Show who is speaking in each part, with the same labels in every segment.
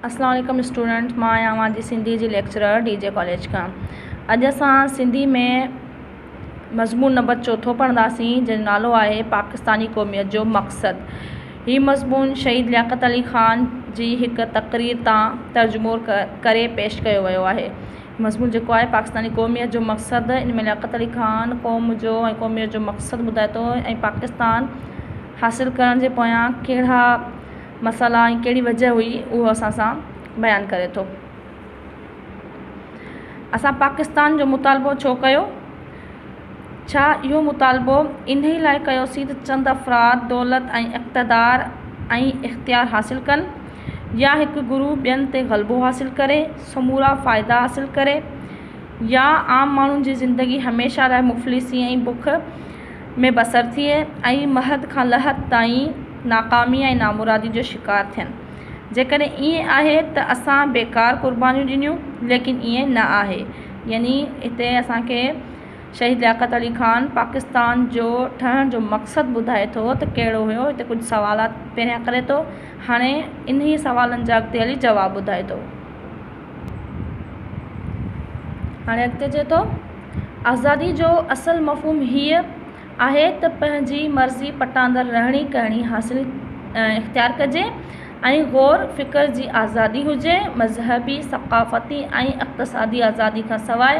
Speaker 1: اسلام عليڪم اسٽوڊنٽس مان آهيان اوهان جي سنڌي جي ليڪچرر ڊي جي ڪاليج کان اڄ اسان سنڌي ۾ مضمون نمبر چوٿو پڙهنداسين جنهنجو نالو آهي پاڪستاني قوميت جو مقصد هي مضمون شهيد لياقت علي خان جي هڪ تقرير تان ترجمو ڪري پيش ڪيو ويو آهي مضمون جيڪو آهي پاڪستاني قوميت جو مقصد ان ۾ لياقت علي خان قوم جو ۽ قوميت جو مقصد ٻڌائي ٿو ۽ پاڪستان حاصل ڪرڻ جي پويان ڪهڙا مسئلا ۽ ڪهڙي وجهه هئي اهو اسان سان بيان ڪري ٿو. اسان پاڪستان جو مطالبو ڇو ڪيو؟ ڇا اهو مطالبو انهي لاء ڪيوسين ته چند افراد دولت ۽ اقتدار ۽ اختيار حاصل ڪن يا هڪ گروهه ٻين تي غلبو حاصل ڪري سمورا فائدا حاصل ڪري يا عام ماڻهن جي زندگي هميشه لاء مفلسي ۽ بک ۾ بسر ٿئي ۽ مهد کان لحد تائين ناڪامي ۽ نامرادي جو شڪار ٿين. جيڪڏهن ائين آهي ته اسان بيڪار قربانيون ڏنيون ليڪن ائين نه آهي يعني هتي اسان کي شهيد لياقت علي خان پاڪستان جو ٺهڻ جو مقصد ٻڌائي ٿو ته ڪهڙو هيو هتي ڪجهه سوالات پهريان ڪري ٿو هاڻي انهي سوالن جا اڳتي هلي جواب ٻڌائي ٿو. هاڻي اڳتي چئي ٿو آزادي جو اصل مفهوم هيء آهي ته پنهنجي مرضي پٽاندڙ رهڻي ڪهڻي حاصل اختيار ڪجي ۽ غور فڪر جي آزادي هجي مذهبي ثقافتي ۽ اقتصادي آزادي کان سواء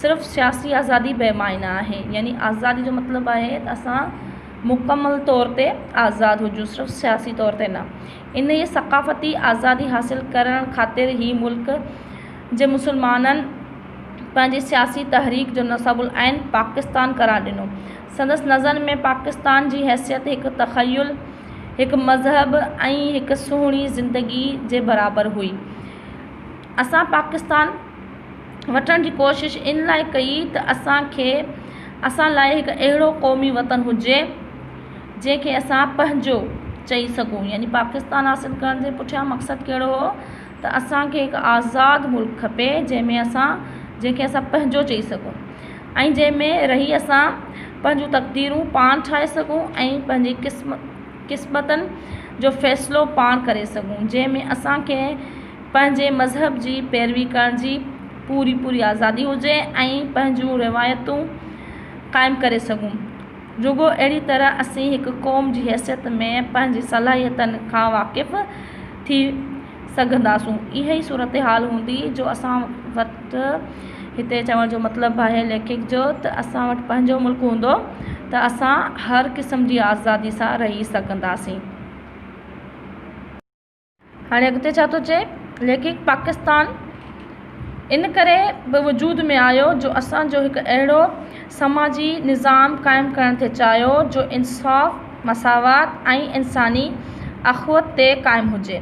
Speaker 1: صرف سياسي آزادي بي معنيٰ آهي يعني آزادي جو مطلب آهي ته اسان مڪمل طور تي آزاد هجون صرف سياسي طور تي نه انهيء ثقافتي آزادي حاصل ڪرڻ خاطر هي ملڪ جي مسلمانن پنهنجي سياسي تحريڪ جو نصاب العين پاڪستان قرار ڏنو. سندس نظر ۾ پاڪستان جي حيثيت هڪ تخيل، هڪ مذهب ۽ هڪ سهڻي زندگيء جي برابر هئي. اسان پاڪستان وٺڻ جي ڪوشش ان لاء ڪئي ته اسان کي اسان لاء هڪ اهڙو قومي وطن هجي، جنهن کي اسان پنهنجو چئي سگهون يعني پاڪستان حاصل ڪرڻ جي پٺيان مقصد ڪهڙو هو ته اسان کي هڪ آزاد ملڪ کپي جنهن ۾ اسان جنهن کي اسان پنهنجو چئي سگهون ۽ جنهن ۾ رهي اسان پنهنجون تقديرون پاڻ ٺاهي سگهون ۽ پنهنجي قسم قسمتن جو فيصلو پاڻ ڪري سگهون جنهن ۾ اسان کي پنهنجي مذهب جي پيروي ڪرڻ جي پوري پوري آزادي هجي ۽ پنهنجون روايتون قائم ڪري سگهون رڳو اهڙي طرح اسين هڪ قوم جي حيثيت ۾ پنهنجي صلاحيتن کان واقف ٿي سگهنداسون. اها ئي صورتحال هوندي جو اسان وٽ هتي چوڻ جو مطلب آهي ليکڪ جو ته اسان وٽ پنهنجو ملڪ هوندو ته اسان هر قسم جي آزادي سان رهي سگهنداسين. هاڻي اڳتي ڇا ٿو چئي ليکڪ پاڪستان ان ڪري به وجود ۾ آيو جو اسان جو هڪ اهڙو سماجي نظام قائم ڪرڻ ٿي چاهيو جو انصاف مساوات ۽ انساني اخوت تي قائم هجي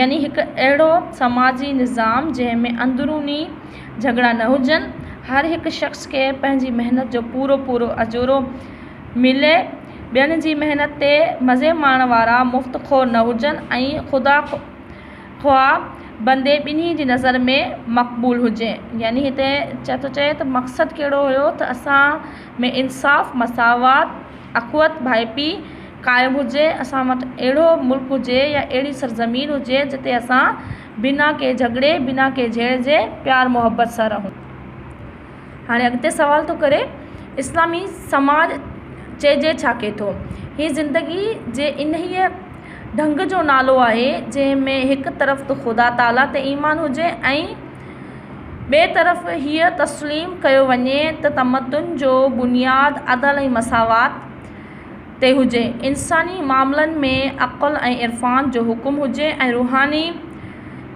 Speaker 1: يعني هڪ اهڙو سماجي نظام جنهن ۾ اندروني جهڳڙا نه هجن هر هڪ شخص کي پنهنجي محنت جو پورو پورو اجورو ملي، ٻين جي محنت تي مزي ماڻڻ وارا مفت خو نه هجن ۽ خدا خواه بندي ٻنهي جي نظر ۾ مقبول هجي. يعني هتي چي ٿو چئي ته مقصد ڪهڙو هيو ته اسان ۾ انصاف، مساوات، اخوت، ڀائپي قائم هجي، اسان وٽ اهڙو ملڪ هجي يا اهڙي سرزمين هجي جتي اسان بنا ڪنهن جهڳڙي، بنا ڪنهن جهيڙ جي پيار محبت سان رهون. هاڻي اڳتي سوال ٿو ڪري اسلامي سماج چئجي ڇا کي ٿو؟ هي زندگي جي انهيء ڍنگ جو نالو آهي جنهن ۾ هڪ طرف ته خدا تعاليٰ تي ايمان هجي ۽ ٻئي طرف هيء تسليم ڪيو وڃي ته تمدن جو بنياد عدل ۽ مساوات تي هجي، انساني معاملن ۾ عقل ۽ عرفان جو حڪم هجي ۽ روحاني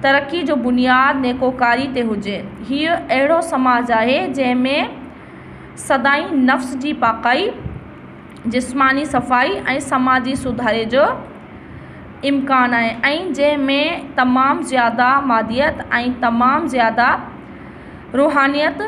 Speaker 1: ترقي جو بنياد نيڪوڪاري تي هجي. هيء اهڙو سماج آهي، جنهن ۾ سدائين نفس جي پاڪائي، جسماني صفائي ۽ سماجي سڌاري جو امڪان آهي ۽ جنهن ۾ تمام زياده ماديت ۽ تمام زياده روحانيت،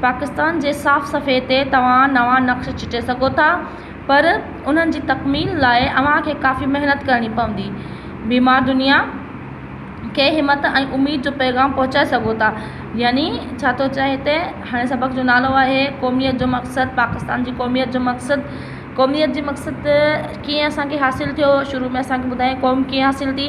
Speaker 1: پاڪستان جي صاف صفحي تي توهان نوان نقش چٽي سگهو ٿا پر انهن جي تڪميل لاء اوهان کي ڪافي محنت ڪرڻي پوندي. بيمار دنيا کي همت ۽ اميد جو پيغام پهچائي سگهو ٿا. يعني ڇا ٿو چئي هتي هاڻي سبق جو نالو آهي قوميت جو مقصد پاڪستان جي قوميت جو مقصد قوميت جي مقصد ڪيئن اسان کي حاصل ٿيو شروع ۾ اسان کي ٻڌايائين قوم ڪيئن حاصل ٿي.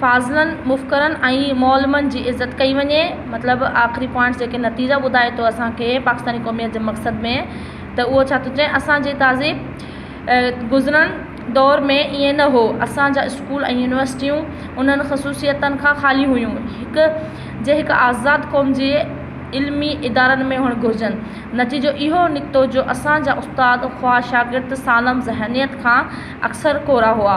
Speaker 1: فاضلن، مفڪرن ۽ معلمن جي عزت ڪئي وڃي. مطلب آخري پوائنٽس جيڪي نتيجا ٻڌائي ٿو اسان کي پاڪستاني قوميت جي مقصد ۾ ته اهو ڇا ٿو چئي اسان جي تهذيب گذرن دور ۾ ائين نه هو اسان جا اسڪول ۽ يونيورسٽيون انهن خصوصيتن کان خالي هيون هڪ جي هڪ آزاد قوم جي علمي ادارن ۾ هئڻ گهرجن نتيجو اهو نڪتو جو اسان جا استاد خواه شاگرد سالم ذهنيت کان اڪثر ڪورا هئا.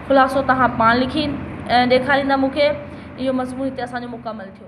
Speaker 1: خلاصو توهان پاڻ لکي ڏيکاريندا مون کي. اهو مضمون هتي اسان جو مڪمل ٿيو.